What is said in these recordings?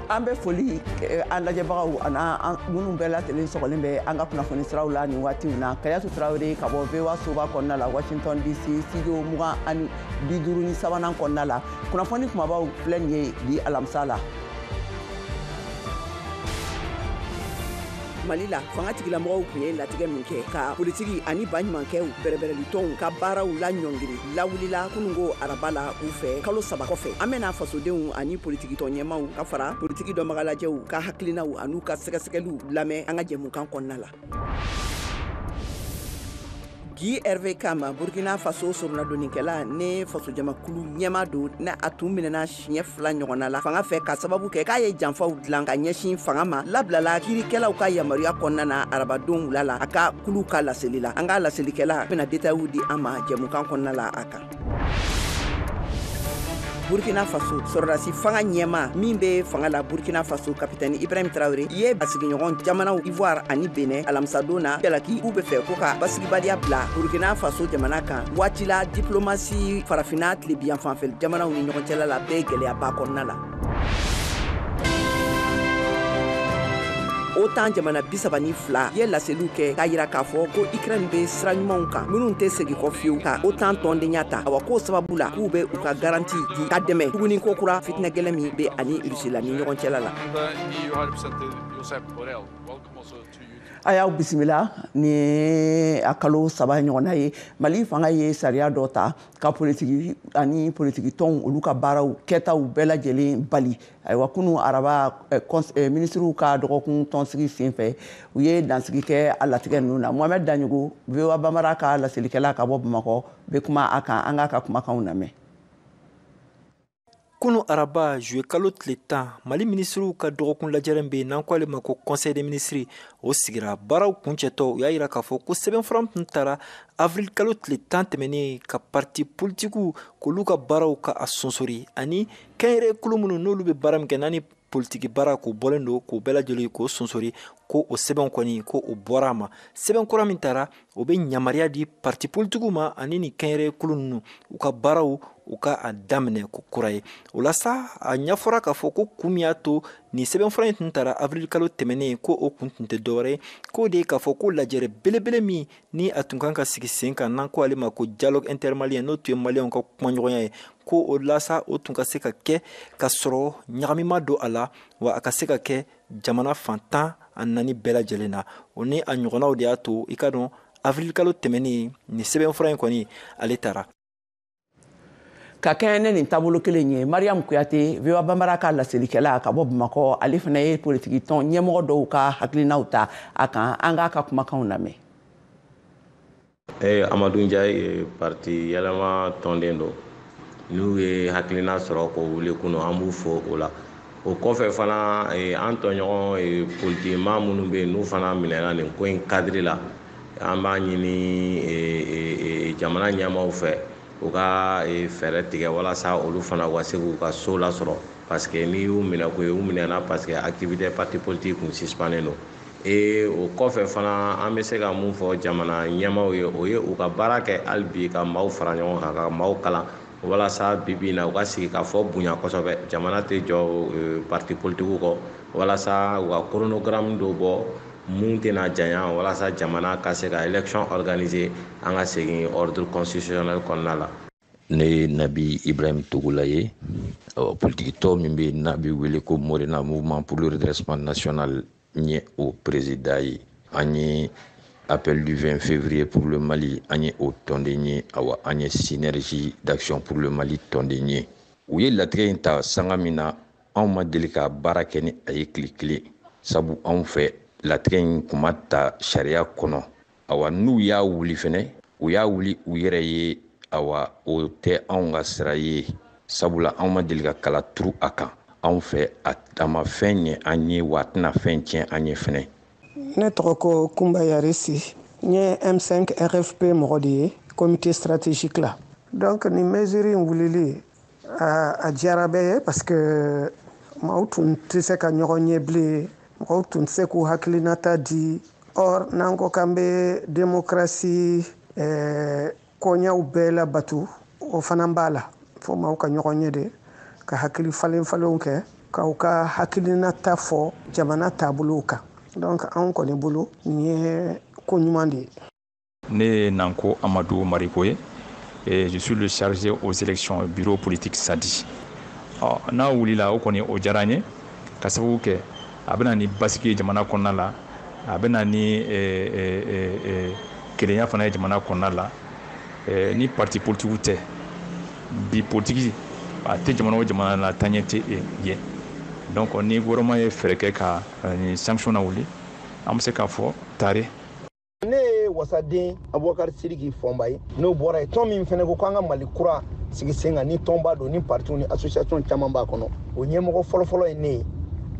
an bɛ foli eh, an lajɛbagaw an'aw minnu bɛɛ lajɛlen sɔgɔlen bɛ an ka kunnafoni siraw la nin waatiw na kajatu tarawele ka bɔ voa soba kɔnɔna la washington dc studio mugan ani bi duuru ni sabanan kɔnɔna la kunnafoni kumabaw filɛ nin ye bi alamisa la mali la fanga tigilamɔgɔw tun ye latigɛ min kɛ ka politiki ani baɲumankɛw bɛrɛbɛrɛlitɔnw ka baaraw laɲɔngiri lawulila kunungo araba la u fɛ kalo saba kɔfɛ an bɛna fasodenw ani politikitɔn ɲɛmaw ka fara politiki dɔnbagalajɛw ka hakilinaw an'u ka sɛgɛsɛgɛliw lamɛn an ka jɛmukan kɔnɔna la guy hervé kam burkina faso soronadonikɛla ni fasojamakulu ɲɛma don ni a tun minɛna siɲɛ fila ɲɔgɔnna la fanga fɛ ka sababu kɛ k'a ye janfaw dilan ka ɲɛsin fanga ma labilala kiirikɛlaw ka yamaruya kɔnɔna na arabadon wula la a ka kulu ka laseli la an ka laselikɛla bɛna detayiw di an ma jɛmukan kɔnɔna la a kan burkina faso sɔrɔdasi fanga ɲɛma min bɛ fanga la burkina faso kapitɛni ibrahim tarawele ye basigiɲɔgɔn jamanaw ivoire ani benɛ alamisadon na jalaki k'u bɛ fɛ ko ka basigibaliya bila burkina faso jamana kan waati la diplomasi farafina tilebiyanfanfɛ jamanaw ni ɲɔgɔn cɛla la bɛ gɛlɛyaba kɔnɔna la otan jamana bisaba ni fila ye laseliw kɛ k'a yira k'a fɔ ko ikrɛn bɛ sira ɲumanw kan minnu tɛ segi kɔ fiyewu ka otan tɔndenya ta awa k'o sababu la k'u bɛ u ka garanti di ka dɛmɛ tuguni ko kura fitinɛgɛlɛn min bɛ a ni rusila ni ɲɔgɔn cɛla la a y'aw bisimila nin y'a kalo saba ɲɔgɔnna ye mali fanga ye sariya dɔ ta ka politiki ani politiki tɔnw olu ka baaraw kɛtaw bɛɛ lajɛlen bali ayiwa kunu araba eh, eh, minisiriw ka dɔgɔkun tɔnsigi sen fɛ u ye dansigi kɛ a latigɛ ninnu na mohamɛd daɲogo voa bambara ka laselikɛla ka bɔ bamakɔ bɛ kuma a kan an k'a ka kumakanw lamɛn kunun araba zuye kalo tile tan mali minisiriw ka dɔgɔkun lajɛrɛ min bɛ yen n'an k'ale ma ko conseil des ministres o sigira baaraw kuncɛtɔ u y'a yira k'a fɔ ko sɛbɛnfura tun tara avril kalo tile tan tɛmɛnen ka parti politikiw k'olu ka baaraw ka a sonsori ani kɛnyɛrɛ kulu minnu n'olu bɛ baara min kɛ n'a ni politiki baara k'o bɔlen don k'o bɛɛ lajɛlen k'o sonsori ko o sɛbɛn kɔni ko o bɔra a ma sɛbɛn kura min tara o bɛ yamaruya di parti politikiw ma ani nin kɛnyɛrɛye kulu ninnu u ka baaraw u ka a daminɛ ko kura ye o la sa a ɲɛfɔra k'a fɔ ko kun min y'a to nin sɛbɛnfura in tun tara avril kalo tɛmɛnen ko o kun tun tɛ dɔwɛrɛ ye k'o de ye k'a fɔ ko lajɛrɛ belebele min ni a tun kan ka sigi sen kan n'an ko ale ma ko dialogue intermalien n'o tun ye maliyɛnw ka kumaɲɔgɔnya ye ko walasa o tun ka se ka kɛ ka sɔrɔ ɲagami ma don a la wa a ka se ka kɛ jamana fan tan ni naani bɛɛ lajɛlen na o ni a ɲɔgɔnnaw de y'a to i k'a dɔn avirilikalo tɛmɛnen nin sɛbɛnfura in kɔni ale tara ka kɛɲɛ ni nin taabolo kelen ye mariyamu kuyate voa banbara ka laselikɛla ka bɔ bamakɔ ale fana ye politiki tɔn ɲɛmɔgɔ dɔw ka hakilinaw ta a kan an k'a ka kumakanw lamɛn eh, amadu njaye ye parti yɛlɛma tɔnden don n'u ye hakilina sɔrɔ k'o wuli kunun an b'u fo o la o kɔfɛ fana eh, an tɔɲɔgɔn eh, politikimaa minnu bɛ yen n'u fana minɛna nin ko in kadiri la an b'a ɲini e, e, e, jamana ɲɛmaaw fɛ u ka fɛɛrɛ tigɛ walasa olu fana ka se k'u ka so lasɔrɔ parce que n'i y'u minɛko ye u minɛna parce que activité parti politique kun suspannen don e o kɔfɛ fana an bɛ se ka mun fɔ jamana ɲɛmaaw ye o ye u ka baara kɛ hali bi ka maaw fara ɲɔgɔn kan ka maaw kalan walasa bi bi in na u ka sigikafɔ bonya kosɛbɛ jamana tɛ jɔ parti politikiw kɔ walasa u ka chronogramme dɔ bɔ mun tɛna janya walasa jamana ka se ka élection organiser an ka segin ordre constitutionnel kɔnɔna la ne ye nabi ibrahim togola ye politikitɔn min bɛ n'a bɛ wele ko morena mouvement pour le redressement national n ye o perezidan ye an ye appel du 20 février pour le mali an ye o tɔnden ye awa an ye synergie d'action pour le mali tɔnden ye u ye latigɛ in ta sanga min na anw ma deli ka baara kɛ ni a ye tile kelen sabu anw fɛ latigɛ in kun ma ta sariya kɔnɔ awa n'u y'a wuli fɛnɛ u y'a wuli u yɛrɛ ye awa o tɛ anw ka sira ye sabula anw ma deli ka kala turu a kan anw fɛ a ma fɛn ɲɛ an ye wa a tɛna fɛn tiɲɛ an ye fɛnɛ ne tɔgɔ ko kunba yaresi n ye m5 rfp mɔgɔ de ye comité stratégique la donc nin mesure in wulili aa a diyara bɛɛ ye parce que maaw tun tɛ se ka ɲɔgɔn ye bilen mɔgɔw tun tɛ se k'u hakilinata di or n'an ko k'an bɛ demokarasi eh, koɲɛw bɛɛ labato o fana b'a la fo maaw ka ɲɔgɔn ye de ka hakili falen falenw kɛ k'u ka hakilinata fɔ jamana taabolow kan donc anw kɔni bolo nin ye ko ɲuman de ye ne ye nanko amadu mariko ye eh, je suis le chargé aux élections bureau politique sadi oh, n'a wulila o kɔni o diyara n ye ka sababu kɛ a bɛ na ni basigi ye jamana kɔnɔna la a bɛ na ni eh, eh, eh, kelenya fana ye jamana kɔnɔna la eh, ni parti politikiw tɛ bi politiki a tɛ jamana o jamana la taaɲɛ tɛ yen donc ni gouvernement ye fɛɛrɛ kɛ ka eh, nin sanction na wuli an bɛ se k'a fɔ taare ne ye wasaden abubakari siriki fɔnba ye n'o bɔra ye tɔn min fɛnɛ ko k'an ka mali kura sigi sen kan ni tɔnba don ni partiw ni association caman b'a kɔnɔ o ɲɛmɔgɔ fɔlɔfɔlɔ ye ne ye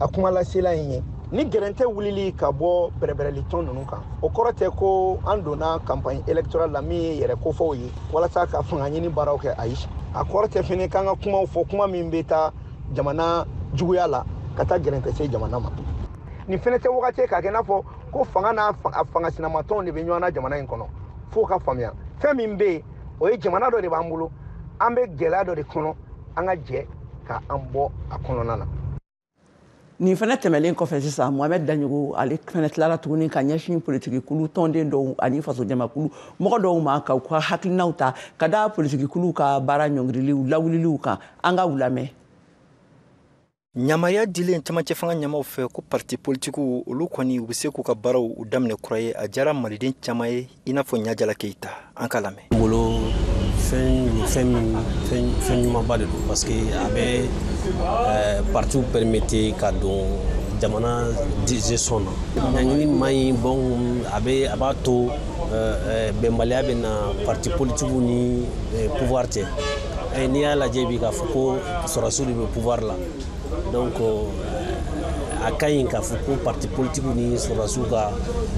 a kuma lasela in ye ni gɛrɛntɛ wulili ka bɔ bɛrɛbɛrɛli tɔn ninnu kan o kɔrɔ tɛ ko an donna kanpaɲi elektoral la min ye yɛrɛ kofɔw ye walasa ka fanga ɲini baaraw kɛ ayi a kɔrɔ tɛ fɛnɛ k'an ka kumaw fɔ kuma min bɛ taa jamana juguya la ka taa gɛrɛntɛ se jamana ma nin fɛnɛ tɛ wagati k'a kɛ n'a fɔ ko fanga n'a fanga sinamatɔnw de bɛ ɲɔgɔn na jamana in kɔnɔ f'o ka faamuya fɛn min bɛ yen o ye jamana dɔ de b'an bolo an bɛ gɛlɛya dɔ de kɔnɔ an ka jɛ ka an bɔ a kɔnɔna na nin fana tɛmɛlen kɔfɛ sisan mohamɛd daɲogo ale fana tilala tuguni ka ɲɛsin politikikulu tɔnden dɔw ani fasojamakulu mɔgɔ dɔw ma ka u ka hakilinaw ta ka da politikikuluw ka baara ɲɔngiriliw lawuliliw kan an ka u lamɛn ɲamariya dilen camancɛ fanga ɲamaw fɛ ko parti politikiw olu kɔni u bɛ se k'u ka baaraw u daminɛ kura ye a diyara maliden caman ye i n'a fɔ ɲajala keyita an k'a lamɛn n bolo fɛn ɲumanba de don parce que a bɛ eh, partiw permettre ka don jamana gestion na ɲaɲini man ɲi bon a b'a to bɛnbaliya bɛ na parti politikiw ni pouvoir cɛ n'i y'a lajɛ bi k'a fɔ ko sɔrɔsiw de bɛ pouvoir la donc a ka ɲi k'a fɔ ko parti politikiw ni sɔrɔsiw ka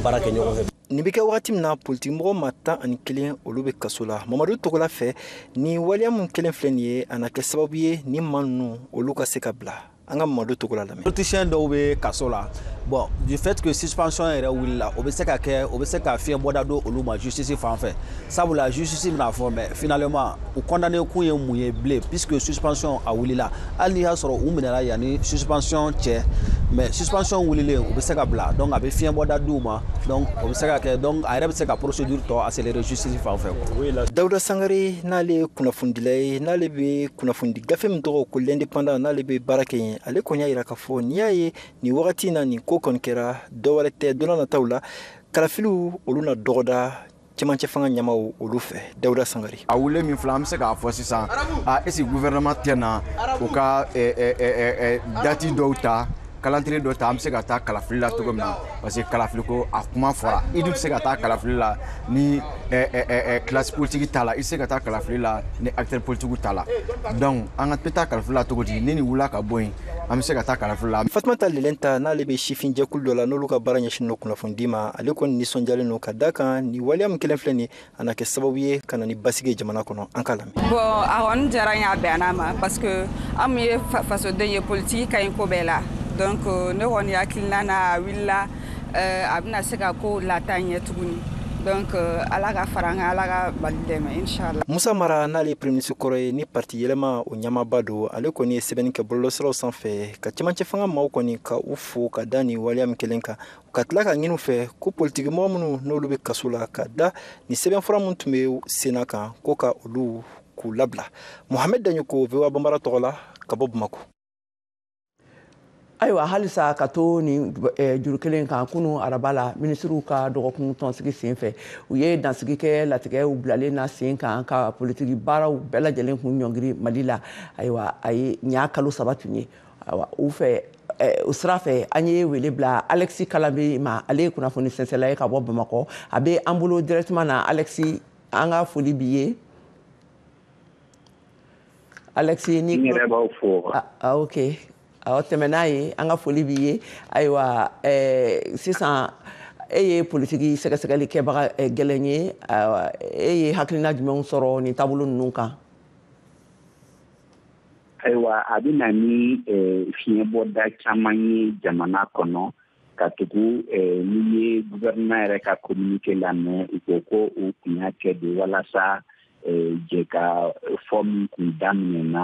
baara kɛ ɲɔgɔn fɛ nin bɛ kɛ wagati min na politikimɔgɔ maa tan ani kelen olu bɛ kaso la mamadu togola fɛ ni waleya min kɛlen filɛ nin ye a na kɛ sababu ye ni maa ninnu olu ka se ka bila an ka mamadu togola lamɛn politicien dɔw bɛ kaso la bon du fait que suspension yɛrɛ wulila o bɛ se ka kɛ o bɛ se ka fiɲɛ bɔda don olu ma justice fan fɛ sabula justice bɛn'a fɔ mais finalement u condamné kun ye mun ye bilen puisque suspension a wulila hali n'i y'a sɔrɔ u minɛla yanni suspension cɛ mais suspension wulilen u bɛ se ka bila donc a bɛ fiɲɛ bɔda d'u ma donc o bɛ se ka kɛ donc a yɛrɛ bɛ se ka procédure tɔ accélérer justice fan fɛ quoi. Dawuda Sangare n'ale ye kunnafonidila ye n'ale bɛ kunnafonidi gafe min tɔgɔ ko l'indépendant n'ale bɛ baara kɛ yen ale kɔni y'a jira k'a fɔ n'i y'a ye nin wagati na nin ko kɔni kɛra dɔwɛrɛ tɛ don nataw la kalafiliw olu na dɔgɔda cɛmancɛ fanga ɲɛmaw olu fɛ dawuda sangare a wulilen min filɛ an bɛ se k'a fɔ sisan est-ce que gouvernement tɛna u ka dati dɔw ta calendrier dɔ ta an bɛ se ka taa kalafili la cogo min na parce que kalafili ko a kuma fɔra i dun bɛ se ka taa kalafili la ni kilasi politiki t'a la i tɛ se ka taa kalafili la ni acteur politikiw t'a la donc an ka bɛ taa kalafili la cogo di ni nin wulila ka bɔ yen an bɛ se ka taa kalafili la. fatumata lelenta n'ale bɛ sifin jɛkulu dɔ la n'olu ka baara ɲɛsinnen don kunnafonidi ma ale kɔni nisɔndiyalen don ka da kan nin waleya min kɛlen filɛ nin ye a na kɛ sababu ye ka na ni basigi jamana kɔnɔ an k'a lamɛn bon a kɔni diyara n y'a bɛnn'a ma parce que an min ye fasoden ye politiki ka ɲi ko bɛɛ la donc euh, ne kɔni hakilina na a wulila euh, a bɛna se ka ko lata ɲɛ tuguni donc euh, ala ka fara an kan ala ka mali dɛmɛ inshallah musa mara n'ale premier ministre kɔrɔ ye ni parti yɛlɛma o ɲɛmaaba don ale kɔni ye sɛbɛnni kɛ bɔlɔlɔsiraw sanfɛ ka cɛmancɛ fanga maaw kɔni ka u fo ka da ni waleya min kɛlen kan ka tila k'a ɲini u fɛ ko politikimɔgɔ minnu n'olu bɛ kaso la ka da ni sɛbɛnfura min tun bɛ senna kan ko ka olu k'u labila mohamɛd daɲɔkɔ voa banbara tɔgɔ la ka bɔ bamako ayiwa halisa ka to nin eh, juru kelen kan kunu araba la minisiriw ka dɔgɔkun tɔnsigi sen fɛ u ye dansigi kɛ latigɛw bilalen na sen kan ka politiki baaraw bɛɛ lajɛlen kun ɲɔngiri mali la ayiwa a ye ɲa kalo saba tun ye u fɛ o sira fɛ an ye wele bila alexi kalambri ma ale ye kunnafoni sɛnsɛnla ye ka bɔ bamakɔ a bɛ an bolo directement na alexi an ka foli b'i ye alexi ne yɛrɛ b'aw fo ok awɔ tɛmɛ n'a ye an ka foli b'i ye ayiwa sisan e ye politiki sɛgɛsɛgɛli kɛbaga gɛlɛn ye e ye hakilina jumɛnw sɔrɔ nin taabolo ninnu kan ayiwa a bɛna ni fiɲɛbɔda caman ye jamana kɔnɔ katugu n'i ye guvɛrɛnma yɛrɛ ka kominike lamɛn u ko ko u kun y'a kɛ de walasa jɛkafɔ min kun daminɛna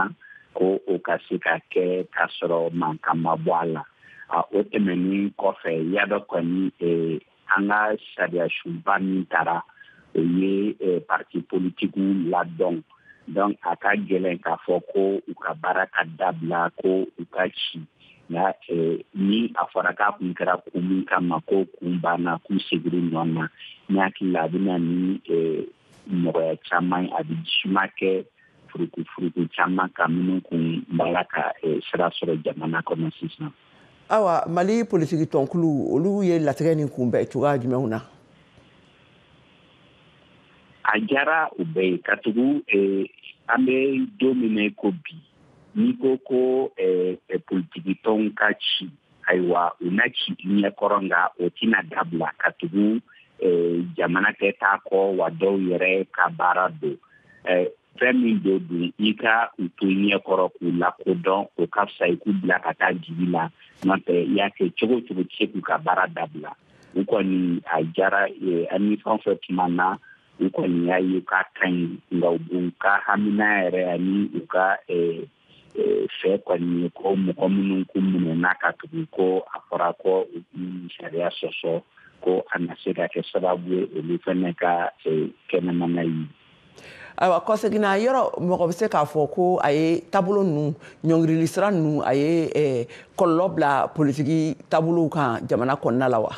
ko o ka se ka kɛ k'a sɔrɔ mankan ma bɔ a la o tɛmɛnen kɔfɛ y'a dɔn kɔni an ka sariyasunba min tara o ye eh, parti politikiw ladɔn donc a ka gɛlɛn k'a fɔ ko u ka baara ka dabila ko u ka ci nka eh, ni a fɔra k'a kun kɛra kun min kama k'o kun banna k'u segin u nɔ na ne hakili la a bɛna ni eh, nɔgɔya caman ye a bɛ jisuma kɛ furukufuruku caman kan minnu kun b'a la ka sira sɔrɔ jamana kɔnɔ sisan awa mali politiki tɔnkulu olu ye latigɛ nin kunbɛn cogoya jumɛnw na a diyara u bɛɛ ye katugu eh, an bɛ don min na ko bi n'i ko ko eh, eh, politiki tɔnw ka ci ayiwa u na ci i ɲɛ kɔrɔ nka o tɛna dabila katugu jamana tɛ t'a kɔ wa dɔw yɛrɛ ka baara don fɛn min don dun i ka u to i ɲɛ kɔrɔ k'u lakodɔn o ka fisa i k'u bila ka taa dibi la n'o tɛ i y'a kɛ cogo cogo tɛ se k'u ka baara dabila u kɔni a diyara e, ani fɛn fɛn tuma na u kɔni y'a ye k'a ka ɲi nka u ka hamina yɛrɛ ani u ka e, e, fɛ kɔni ko mɔgɔ minnu k'u minɛna katugu ko a fɔra ko u ye sariya sɔsɔ ko a na se ka kɛ sababu ye olu fana ka kɛnɛmana ye ayiwa kɔseginna yɔrɔ mɔgɔ bɛ se k'a fɔ ko a ye taabolo ninnu ɲɔngirili sira ninnu a ye eh, kɔlɔlɔ bila politiki taabolow kan jamana kɔnɔna la wa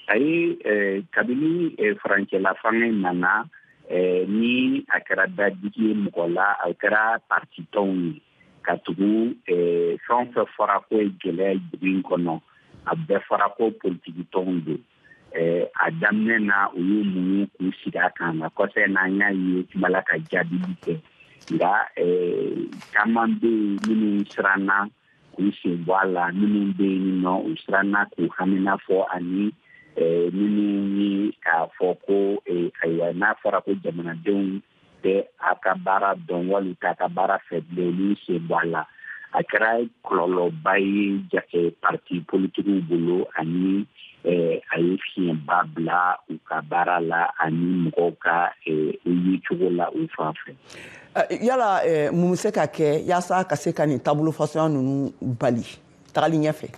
a ye eh, kabini eh, furancɛla fanga in nana ni a kɛra dadigi ye mɔgɔ la a kɛra partitɔnw ye katugu fɛn o fɛn fɔra k'o ye gɛlɛya dugu in kɔnɔ a bɛɛ fɔra ko politikitɔnw don eh, a daminɛ na u y'u muɲu k'u sigi a kan nka kɔfɛ na an y'a ye kumala ka jaabili kɛ nka eh, caman bɛ yen minnu siranna k'u sen bɔ a la minnu bɛ yen nɔ u siranna k'u hamina fɔ ani eh, minnu ye k'a fɔ ko eh, ayiwa n'a fɔra ko jamanadenw tɛ a ka baara dɔn wali t'a ka baara fɛ bilen olu sen bɔ a la a kɛra kɔlɔlɔba ye jate parti politikiw bolo ani eh, a ye fiɲɛba bila u ka baara la ani mɔgɔw ka eh, yecogo la u fan fɛ eh, yala mun bɛ se ka kɛ yaasa ka se ka nin taabolo fasuguya ninnu bali tagali ɲɛfɛ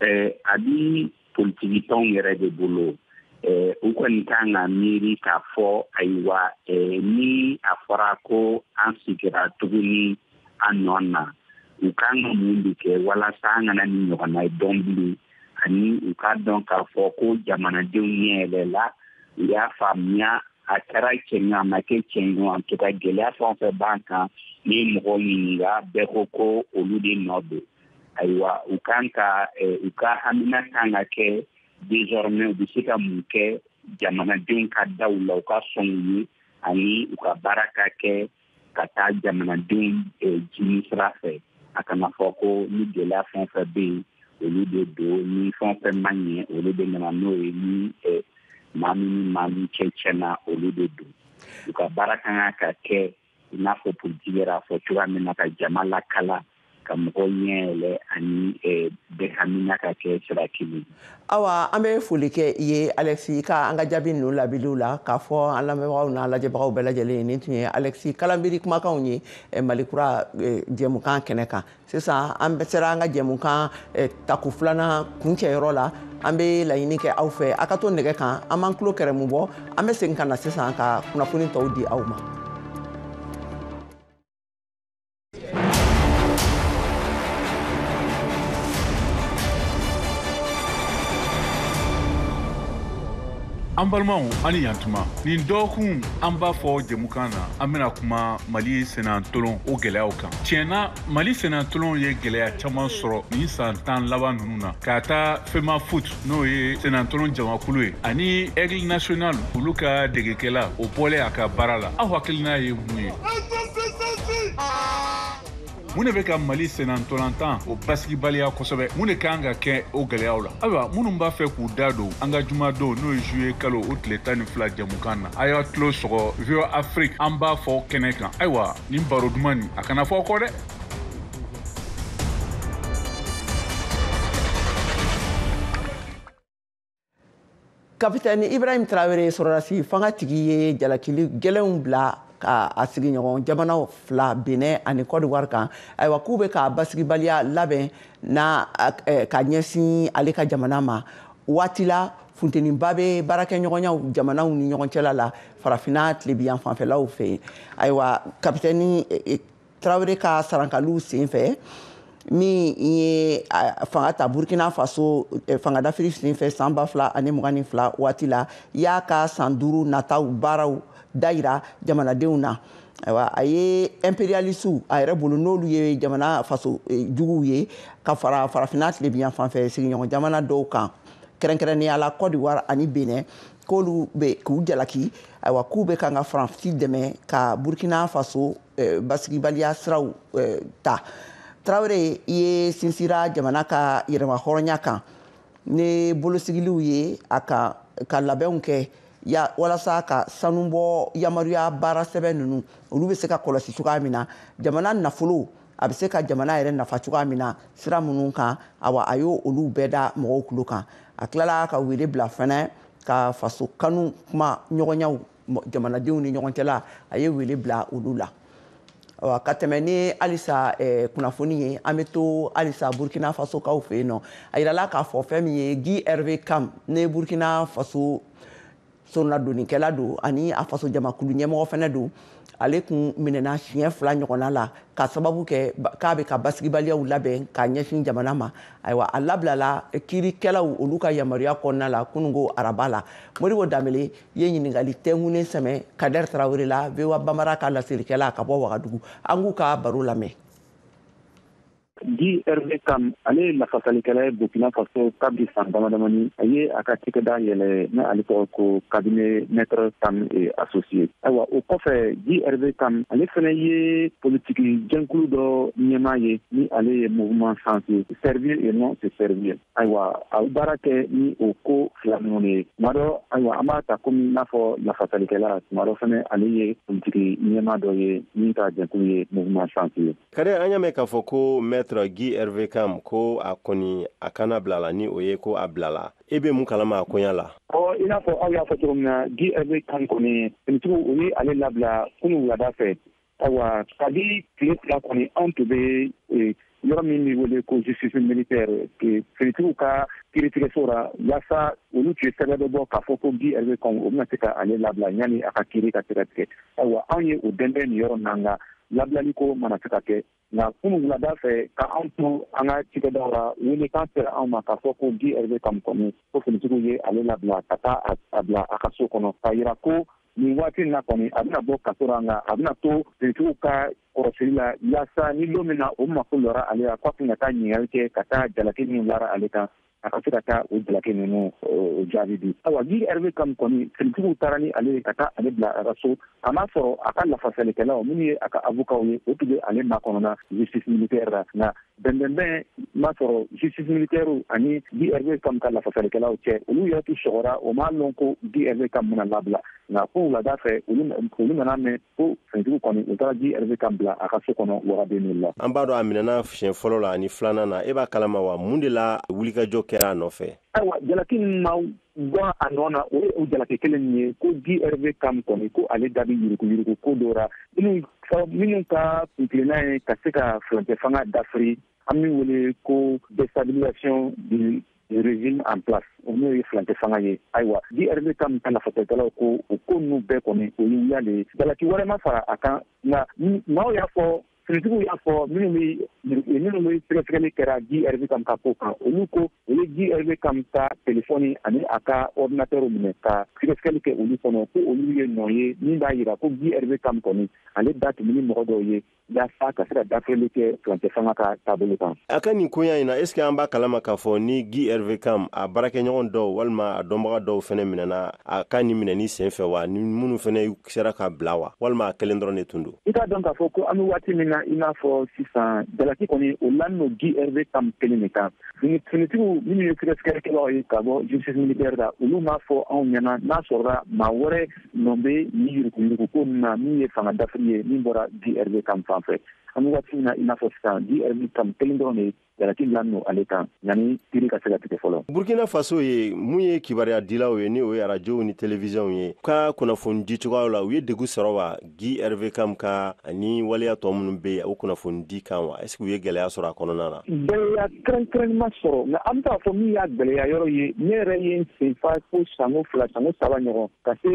a bi politiki tɔnw yɛrɛ de bolo u kɔni kan ka miiri k'a fɔ ayiwa ni a fɔra ko an sigira tuguni an nɔ na u kan ka mun de kɛ walasa an kana nin ɲɔgɔnna ye dɔn bilen ani u k'a dɔn k'a fɔ ko jamanadenw ɲɛ yɛlɛla u y'a faamuya a kɛra cɛn ye o a ma kɛ cɛn ye o en tout cas gɛlɛya fɛn o fɛn b'an kan n'i ye mɔgɔw ɲininka bɛɛ ko ko olu de nɔ don ayiwa u kan ka eh, u ka hamina kan ka kɛ désormais u bɛ se ka mun kɛ jamanadenw ka da u la u ka sɔn u ye ani u ka baara ka kɛ ka taa jamanadenw eh, dimi sira fɛ a kana fɔ ko ni gɛlɛya fɛn o fɛn bɛ yen olu de don ni fɛn o fɛn ma ɲɛ olu de nana n'o ye ni eh, maa min ni maa min cɛ cɛnna olu de don u ka baara kan ka kɛ i n'a fɔ politiki yɛrɛ a fɔ cogoya min na ka jama lakala ka mɔgɔ ɲɛ yɛlɛ ani eh, bɛɛ hamina ka kɛ sira kelen awa an bɛ foli kɛ i ye alexis ka an ka jaabi ninnu labiliw la k'a fɔ an lamɛnbagaw n'an lajɛbagaw bɛɛ lajɛlen ye nin tun ye alexis kalanbiri kumakanw ye eh, mali kura eh, jɛmukan kɛnɛ kan sisan an bɛ sera an ka jɛmukan eh, tako filanan kuncɛyɔrɔ la an bɛ laɲini kɛ aw fɛ a ka to nɛgɛ kan an b'an tulo kɛrɛmu bɔ an bɛ segin ka na sisan ka kunnafoni tɔw di aw ma an balimaw a ni yan tuma nin dɔgɔkun an b'a fɔ jɛmukan na an bɛna kuma mali senna ntolon o gɛlɛyaw kan tiɲɛ na mali senna ntolonw ye gɛlɛya caman sɔrɔ nin san tan laban nunu na ka taa femafoot n'o ye senna ntolon jamakulu ye ani aigle national olu ka degekɛla o bɔlen a ka baara la aw hakilina ye mun ye mun de bɛ ka mali senna ntolantan o basigibaliya kosɛbɛ mun de kan ka kɛ o gɛlɛyaw la ayiwa minnu b'a fɛ k'u da don an ka jumadon n'o ye juillet kalo o tile tan ni fila jamukan na a y'a tulo sɔgɔ voa afrique an b'a fɔ kɛnɛ kan ayiwa nin baro duman nin a kana fɔ kɔ dɛ kapitɛni ibrahim tarawele sɔrɔdasi fangatigi ye jalakili gɛlɛnw bila ka a sigiɲɔgɔn jamanaw fila benɛ ani kɔdiwari kan ayiwa k'u bɛ ka basigibaliya labɛn na eh, ka ɲɛsin ale ka jamana ma waati la funteniba bɛ baarakɛɲɔgɔnyaw jamanaw ni ɲɔgɔn cɛla la farafinna tilebiyan fanfɛlaw fɛ ayiwa kapitɛni eh, eh, tarawele ka sarankaliw sen fɛ min ye fanga ta burkina faso eh, fangadafiri sen fɛ san ba fila ani mugan ni fila waati la y'a ka san duuru nataw baaraw dayira jamanadenw na ayiwa a ye imperialisiw a yɛrɛ bolo n'olu ye jamana faso eh, juguw ye ka fara farafinna tilebiyan fanfɛ sigiɲɔgɔn jamana dɔw kan kɛrɛnkɛrɛnnenya la cote d'ivoire ani benin k'olu bɛ k'u jalaki ayiwa k'u bɛ kan ka faransi dɛmɛ ka burkina faso eh, basigibaliya siraw eh, ta tarawele ye sinsira jamana ka yɛrɛmahɔrɔnya kan ni bolosigiliw ye a kan ka labɛnw kɛ walasa ka sanubɔ yamaruya baara sɛbɛn ninnu olu bɛ se ka kɔlɔsi cogoya min na jamana nafolo a bɛ se ka jamana yɛrɛ nafa cogoya min na sira minnu kan awa a y'olu bɛɛ da mɔgɔw tulo kan a tilala ka wele bila fɛnɛ ka faso kanu kuma ɲɔgɔnyaw jamanadenw ni ɲɔgɔn cɛla a ye wele bila olu la awa ka tɛmɛ ni halisa eh, kunnafoni ye an bɛ to halisa burkina faso kaw fɛ yen nɔ a yirala k'a fɔ fɛn min ye guy herve kam ne burkina faso soronadonnikɛla don ani a faso jamakulu ɲɛmɔgɔ fana don ale kun minɛna siɲɛ fila ɲɔgɔnna la ka sababu kɛ k'a bɛ ka basigibaliyaw labɛn ka ɲɛsin jamana ma ayiwa a labilala kiirikɛlaw olu ka yamaruya kɔnɔna la kununko araba la modibo danbele ye ɲininkali tɛnkunnen sɛmɛ kadɛr tarawele la voa bambara ka laselikɛla ka bɔ wagadugu an k'u ka baro lamɛn guy herve kam ale ye lafasalikɛla ye burkina faso kabiri san damadamani a ye a ka cikɛda yɛlɛ ni ale tɔgɔ ko cabinet maître kam et associés ayiwa o kɔfɛ guy herve kam ale fana ye politiki jɛnkulu dɔ ɲɛmaa ye ni ale ye mouvement sens servir et non se servir ayiwa a baara kɛ ni o ko fila ninnu de ye tuma dɔ ayiwa an b'a ta komi n'a fɔ lafasalikɛla tuma dɔ fana ale ye politiki ɲɛmaa dɔ ye min ka jɛkulu ye mouvement sens ye Kadɛr an y'a mɛn k'a fɔ ko maître guy herve kam ko a kɔni a kannabilala ni o ye ko a bilala e bɛ mun kalama a koɲa la i n'a fɔ aw y'a fɔ cogo min na guy herve kam kɔni finitigiw u ye ale labila kunun wulada fɛ ayiwa kabi tile fila kɔni anw tun bɛ yɔrɔ min bɛ wele ko justice militaire finitigiw ka kiiritigɛso la walasa olu tun ye sɛbɛn dɔ bɔ k'a fɔ ko guy herve kam u bɛna se k'ale labila yanni a ka kiiri ka se ka tigɛ ayiwa anw ye o dɛndɛn nin yɔrɔ na nka labilali ko ma na se ka kɛ nka kunun wulada fɛ ka anw to an ka cikɛdaw la weelekan sera anw ma k'a fɔ ko guy herve kam kɔni ko finitigiw ye ale labila ka taa a bila a ka so kɔnɔ k'a jira ko nin waati in na kɔni a bɛna bɔ kaso la nka a bɛna to finitigiw ka kɔrɔsili la yaasa ni don min na o mako lɔra ale la k'a tun ka taa ɲininkali kɛ ka taa jalaki min lara ale kan a ka se ka taa o jalaki ninnu o jaabi di awa guy herve kam kɔni finitigiw taara ni ale ye ka taa ale bila a ka so a m'a sɔrɔ a ka lafasalikɛlaw minnu ye a ka avokaw ye o tun bɛ ale makɔnɔna justice militaire la nka bɛnbɛnbɛn ma sɔrɔ justice militaire ani guy herve kam ka lafasalikɛlaw cɛ olu yɛrɛ tun sɔgɔra o m'a lɔn ko guy herve kam bɛna labila nka ko wulada fɛ olu nana mɛn ko finitigiw kɔni u taara guy herve kam bila a ka so kɔnɔ waga deux mille la an b'a dɔn a minɛna siɲɛ fɔlɔ la ani filanan na e b'a kalama wa mun de la wulikajɔ kɛra a nɔfɛ ayiwa jalaki min ma bɔ a nɔ na o ye o jalaki kelen min ye ko guy herve kam kɔni ko ale da bɛ yuruguyurugu ko dɔ ra minnu minnu ka kuntilenna ye ka se ka furancɛ fanga dafiri an min wele ko déstabilisation du régime en place o n'o ye furancɛ fanga ye ayiwa guy herve kam ka lafasalikɛlaw ko o ko ninnu bɛɛ kɔni o ye wuya le ye jalaki wɛrɛ ma fara a kan nka maaw y'a fɔ finitigiw y'a fɔ minnu bɛ minnu bɛ sɛgɛsɛgɛli kɛra guy herve kam ka ko kan olu ko u ye guy herve kam ka telefɔni ani a ka ordinatɛr minɛ ka sɛgɛsɛgɛli kɛ olu kɔnɔ ko olu ye nɔ ye min b'a jira ko guy herve kam kɔni ale da tun bɛ ni mɔgɔ dɔw ye yaasa ka se ka dafirili kɛ furancɛ fanga ka taabolo kan a ka nin koɲa in na est ce que an b'a kalama k'a fɔ ni guy herve kam a baarakɛɲɔgɔn dɔw walima a dɔnbaga dɔw fɛnɛ minɛna a ka nin minɛni sen fɛ wa ni minnu fɛnɛ sera ka bila wa walima a kelen dɔrɔn de tun don i k'a dɔn k'a fɔ ko an be waati min na i n'a fɔ sisan jalaki kɔni o lani no guy herve kam kelen de kan finitigiw minnu ye sɛgɛsɛgɛlikɛlaw ye ka bɔ justice militaire la olu m'a fɔ anw ɲɛna n'a sɔrɔla maa wɛrɛ nɔn bɛ ni yuruguyurugu ko ninnu na min ye fanga dafiri ye min bɔra guy herve kam fan fɛ an bɛ waati na i n'a fɔ sisan guy herve kam kelen dɔrɔn de jalaki lani don ale kan yanni kiri ka se ka tigɛ fɔlɔ burkina faso ye mun ye kibaruya dilaw ye ni o ye arajow ni télévision ye ka kunnafoni di cogoyaw la u ye degun sɔrɔ wa guy herve kam ka ani waleya tɔ minnu bɛ yen o kunnafoni di kan wa est-ce que u ye gɛlɛya sɔrɔ a kɔnɔna na gɛlɛya kɛrɛnkɛrɛnnen ma sɔrɔ nka an bɛ taa a fɔ min y'a gɛlɛya yɔrɔ ye ne yɛrɛ ye n sen fa fo sanko fila sanko saba ɲɔgɔn ka se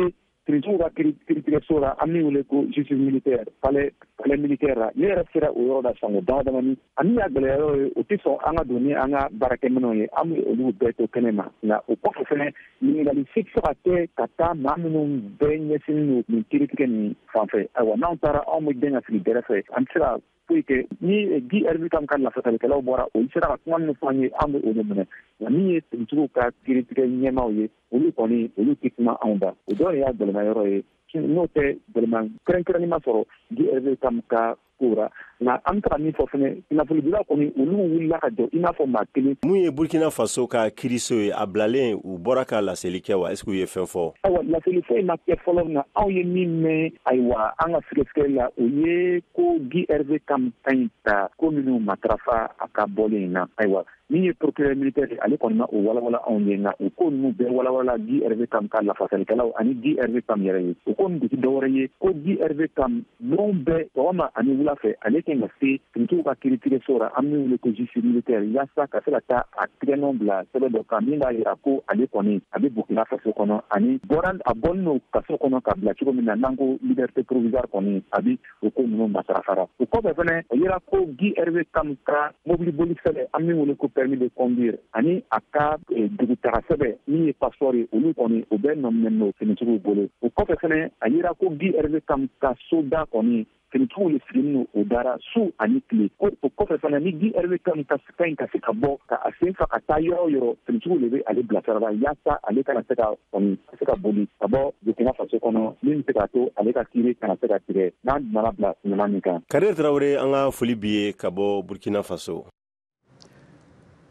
finitigiw ka kiritigɛso la an min wele ko justice militaire palais militaire la ne yɛrɛ sera o yɔrɔ la sanko dama damani a min y'a gɛlɛya yɔrɔ ye u tɛ sɔn an ka don ni an ka baarakɛminɛnw ye an bɛ olu bɛɛ to kɛnɛ ma nka o kɔfɛ fɛnɛ ɲininkali si tɛ se ka kɛ ka taa maa minnu bɛɛ ɲɛsinnen don nin kiritigɛ nin fanfɛ ayiwa n'anw taara anw bɛ dɛn ka sigi gɛrɛfɛ an tɛ se ka foyi kɛ ni guy herve kam ka lafasalikɛlaw bɔra olu sera ka kuma min fɔ an ye an bɛ o de minɛ nka min ye finitigiw ka kiritigɛ ɲɛmaaw ye olu kɔni olu tɛ kuma anw da o dɔ de y'a gɛlɛma yɔrɔ ye n'o tɛ gɛlɛma kɛrɛnkɛrɛnni ma sɔrɔ guy herve kam ka ko ra nka an bɛ taga min fɔ fɛnɛ kunnafonidilaw kɔni olu wulila ka jɔ i n'a fɔ maa kelen mun ye burkina faso ka kiriso ye a bilalen u bɔra ka laseli kɛ wa est ce que u ye fɛn fɔ awa laseli foyi ma kɛ fɔlɔ nka anw ye min mɛn ayiwa an ka sɛgɛsɛgɛ la o ye ko guy herve kam ka ɲi ka ko minnu matarafa a ka bɔlen in na ayiwa min ye procureur militaire ye ale kɔni ma o walawala anw ye nka o ko ninnu bɛɛ walawala guy herve kam ka lafasalikɛlaw ani guy herve kam yɛrɛ ye o ko nin tɛ dɔwɛrɛ ye ko guy herve kam don bɛɛ sɔgɔma ani wula fɛ ale kan ka se finitigiw ka kiritigɛ so ra an min wele ko justice militaire yaasa ka se ka taa a tigɛnɔn bila sɛbɛ dɔ kan min b'a yira ko ale kɔni a bɛ burkina faso kɔnɔ ani a bɔlen don kaso kɔnɔ ka bila cogo min na n'an ko liberté provisoire kɔni a bi o ko ninnu matarafara o kɔfɛ fɛnɛ a yera ko guy herve kam ka mobiliboli sɛbɛ an min wele ko permis de conduire ani a ka eh, dugutaga sɛbɛ min ye passeport ye olu kɔni u bɛɛ nɔminɛni no finitigiw bolo o kɔfɛ fɛnɛ a yera ko guy herve kam ka soda kɔni finitigiw le sigini no o dara su ani tile ko o kɔfɛ fana ni guy herve kam ka ɲi ka se ka bɔ ka a sen fa ka taa yɔrɔ o yɔrɔ finitigiw de bɛ ale bilasirala yaasa ale kana se ka kɔni ka se ka boli ka bɔ burkina faso kɔnɔ min bɛ se k'a to ale ka kiiri kana se ka tigɛ n'a nana bila ɲama min kan kader traore an ka foli b'i ye ka bɔ burkina faso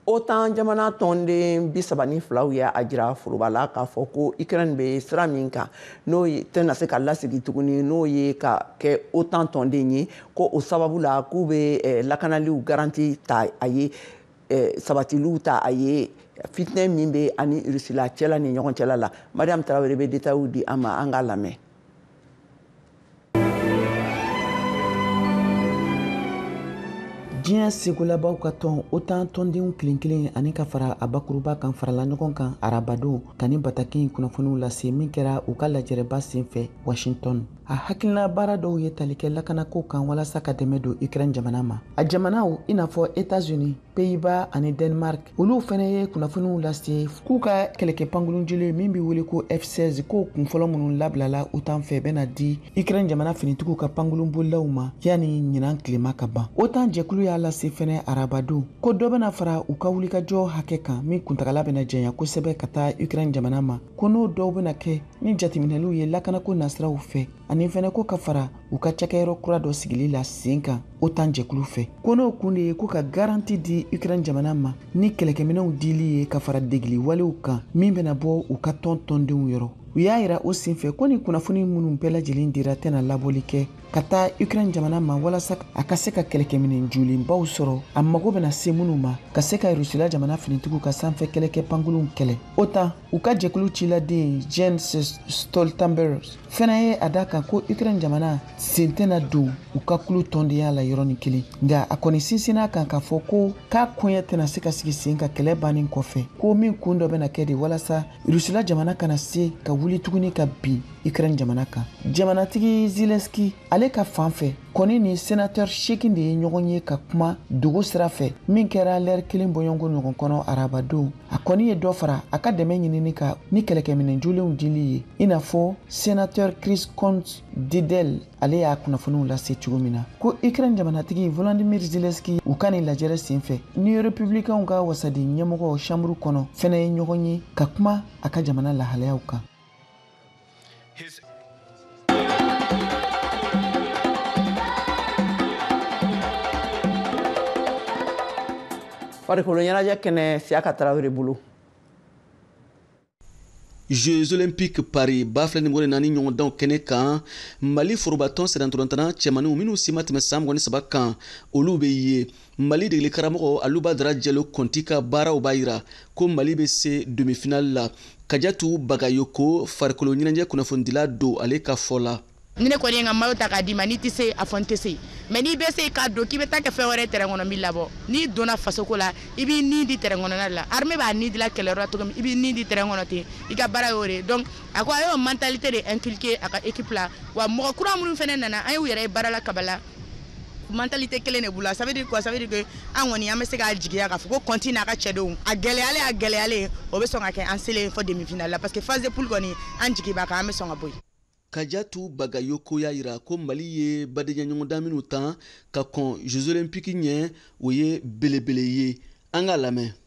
otan jamana tɔnden bi saba ni filaw ye a jira foroba la k'a fɔ ko ukraine bɛ sira min kan n'o tɛna se ka lasegin tuguni n'o ye ka kɛ otan tɔnden ye ko o sababu la k'u bɛ eh, lakanaliw garanti ta a ye eh, sabatiliw ta a ye fitinɛ min bɛ a ni rusila cɛla ni ɲɔgɔn cɛla la mariam tarawele bɛ detayiw di an ma an k'a lamɛn diɲɛ segolabaw ka tɔn otan tɔndenw kelen kelen ani ka fara a bakuruba kan farala ɲɔgɔn kan arabadon ka nin bataki kunnafoniw lase min kɛra u ka lajɛrɛba senfɛ washington a hakilina baara dɔw ye tali kɛ lakanako kan walasa ka dɛmɛ don ukraine jamana ma a jamanaw i n'a fɔ etats-unis pays-bas ani denmark olu fɛnɛ ye kunnafoniw lase k'u ka kɛlɛkɛ pankurun jolen min be wele ko f16 k'o kun fɔlɔ minnu labilala otan fɛ bena di ukraine jamana finitigiw ka pankurun bolilaw ma yani ɲinan tilema ka ban otan jɛkulu y'a lase fɛnɛ arabadon ko dɔ bena fara u ka wulikajɔ hakɛ kan min kuntagala bena janya kosɛbɛ ka taa ukraine jamana ma ko n'o dɔw bena kɛ ni jateminɛliw ye lakanako nasiraw fɛ ani fɛnɛ ko ka fara u ka cakɛyɔrɔ kura dɔ sigili la sen kan otan jɛkulu fɛ ko n'o kun de ye ko ka garanti di ukraine jamana ma ni kɛlɛkɛminɛw dili ye ka fara degili walew kan min bɛna bɔ u ka tɔn tɔndenw yɔrɔ u y'a yira o senfɛ ko ni kunnafoni minnu bɛɛ lajɛlen dira tɛna labɔli kɛ ka taa ukraine jamana ma walasa a ka se ka kɛlɛkɛminɛ jolenbaw sɔrɔ a mago bɛna se minnu ma ka se ka rusila jamana finitigiw ka sanfɛ kɛlɛkɛ pankurunw kɛlɛ otan u ka jɛkulu ciladen jens stoltenberg fɛnɛ ye a da kan ko ukraine jamana sen tɛna don u ka kulu tɔndenya la yɔrɔnin kelen nka a kɔni sinsinn'a kan k'a fɔ ko k'a koɲɛ tɛna se ka sigi sen kan kɛlɛ bannen kɔfɛ ko min kun dɔ bɛna kɛ de walasa rusila jamana kana se ka wuli tuguni ka bin ukraine jamana kan jamanatigi zelensky ale ka fan fɛ kɔni ni senatɛr seegin de ye ɲɔgɔn ye ka kuma dogo sira fɛ min kɛra lɛri kelen bɔɲɔgɔnko ɲɔgɔn kɔnɔ arabadon a kɔni ye dɔ fara a ka dɛmɛ ɲinini kan ni kɛlɛkɛminɛ jolenw dili ye i n'a fɔ senatɛr chris coons didel ale y'a kunnafoniw lase cogo min na ko ukraine jamanatigi volodimir zelensky u ka nin lajɛrɛ sen fɛ ni republikanw ka wasaden ɲɛmɔgɔ chambre kɔnɔ fɛnɛ ye ɲɔgɔn ye ka kuma a ka jamana lahalayaw kan farikolo ɲɛnajɛ kɛnɛ siyaka tarawele bolo jeux olympiques paris ba fila ni mugan ni naani ɲɔgɔndanw kɛnɛ kan mali forobatɔn sennantolatanna cɛmaniw minw si ma tɛmɛ san mugan ni saba kan olu be ye mali degeli karamɔgɔ alu badara jalo kɔnti ka baaraw b'a yira ko mali bɛ se demifinali la kajatu bagayoko farikolo ɲɛnajɛ kunnafonidila don ale ka fɔ la ni ne kɔni ye n ka mayo ta k'a d'i ma n'i tɛ se a fɔ n tɛ se mais n'i bɛ se k'a don k'i bɛ taa kɛ fɛn wɛrɛ tɛrɛn kɔnɔ n b'i labɔ n'i donna fasoko la i b'i ni di tɛrɛn kɔnɔna l'armée b'a ni dila kɛlɛyɔrɔ la cogo min i b'i ni di tɛrɛn kɔnɔ ten i ka baara y'o de ye donc a ko a y'o mentalité de inculquer a ka équipe la wa mɔgɔ kura minnu fana nana an y'u yɛrɛ ye baara la kabala mentalité kelen de b'u la ça veut dire quoi ça veut dire que an kɔni an bɛ se k'a jigiya k'a fɔ ko kɔnti n'a ka cɛdenw a gɛlɛyalen a gɛlɛyalen o bɛ sɔn ka kɛ an selen fɔ demi-finale la parce que phase de poule kɔni an jigi b'a kan an bɛ sɔn ka bɔ yen kajatu bagayoko y'a yira ko mali ye badenya ɲɔgɔndan minnu tan ka kɔn jeux olympique ɲɛ o ye belebele ye an k'a lamɛn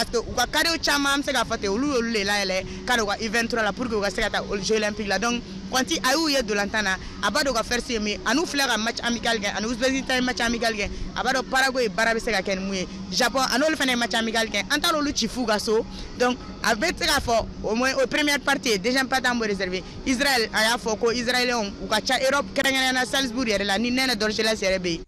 parce que u ka cadrew caman an bɛ se k'a fɔ ten olu y'olu de layɛlɛ ka don u ka u vingt-trois la pour que u ka se ka taa jeux olympique la donc kɔnti a y'u ye ntolatan na a b'a dɔn ka force ye min ani u filɛ ka match amical kɛ an ni uzbekistan ye match amical kɛ a b'a dɔn paraguay baara bɛ se ka kɛ ni mun ye japon an n'olu fana ye match amical kɛ an taara olu ci f'u ka so donc a bɛ se k'a fɔ au moins o première partie ye deuxième partie an b'o réserver israel a y'a fɔ ko israéliens u ka ca europe kɛrɛnkɛrɛnnenya na salzbourg yɛrɛ la ni nene dorgeles yɛrɛ bɛ yen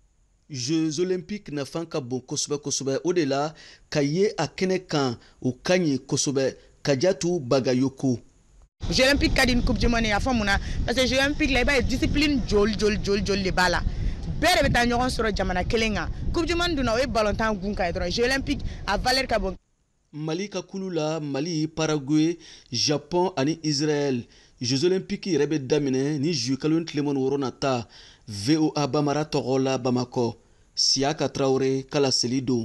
Jeux olympiques nafan ka bon kosɛbɛ kosɛbɛ o de la ka ye a kɛnɛ kan o ka ɲi kosɛbɛ Kajatu Bagayoko. Jeux olympiques ka di ni coupe du monde ye a fɔ mun na parce que Jeux olympiques la i b'a ye discipline joli joli joli joli de b'a la bɛɛ de bɛ taa ɲɔgɔn sɔrɔ jamana kelen kan coupe du monde dun na o ye ballontan kunkan ye dɔrɔn Jeux olympiques a valeur ka bon mali ka kulu la mali paraguay japon ani israɛl jeux olympique yɛrɛ bɛ daminɛ ni juillet kalo tile mugan ni wɔɔrɔ nata voa bambara tɔgɔ la bamakɔ siyaka tarawele ka laseli don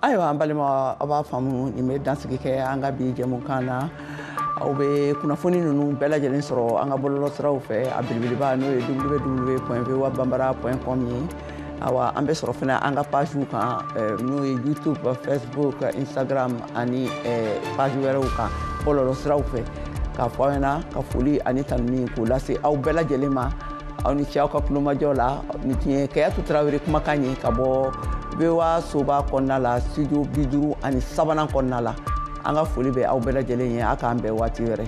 ayiwa an balima aw b'a faamu nin bɛ dansigi kɛ an ka bi jɛmukan na aw bɛ kunnafoni ninnu bɛɛ lajɛlen sɔrɔ an ka bɔlɔlɔsiraw fɛ a belebeleba n'o ye www.voa banbara point com ye awa an bɛ sɔrɔ fana an ka pagew kan eh, n'o ye youtube facebook instagram ani eh, page wɛrɛw kan bɔlɔlɔsiraw fɛ k'a fɔ aw ɲɛna ka foli ani tanuni k'o lase aw bɛɛ lajɛlen ma aw ni ce aw ka kulomajɔ la nin tun ye kajatu tarawele kumakan ye ka bɔ voa soba kɔnɔna la studio bi duuru ani sabanan kɔnɔna la an ka foli bɛ aw bɛɛ lajɛlen ye a k'an bɛn waati wɛrɛ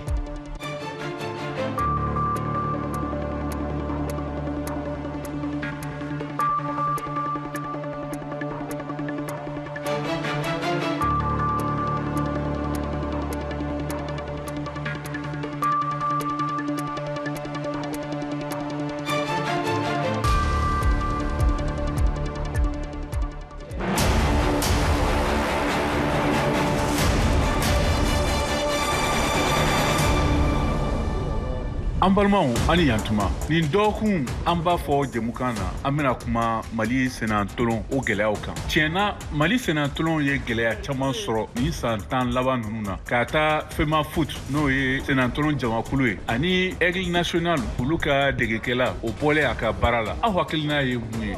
an balimaw aw ni yantuma nin dɔɔkun an b'a fɔ jɛmukan na an bena kuma mali sennatolon o gwɛlɛyaw kan tiɲɛ na mali sennatolon ye gwɛlɛya caaman sɔrɔ nin saan tan laban nunu na k'a ta femafoot n'o ye senantolan jamakulu ye ani aigle national olu ka degekɛla o bɔlen a ka baara la aw hakilina ye mun ye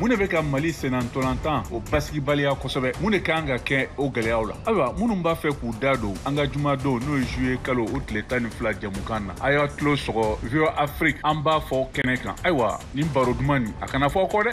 mun de bɛ ka mali senantolantan o basigibaliya kosɛbɛ mun de kan ka kɛ o gwɛlɛyaw la ayiwa minnu b'a fɛ k'u da don an ka jumadon n'o ye juillet kalo o tile tan ni fila jɛmukan na a y'a tulo sɔgɔ voa afrique an b'a fɔ kɛnɛ kan ayiwa nin baro duman nin a kana fɔ kɔ dɛ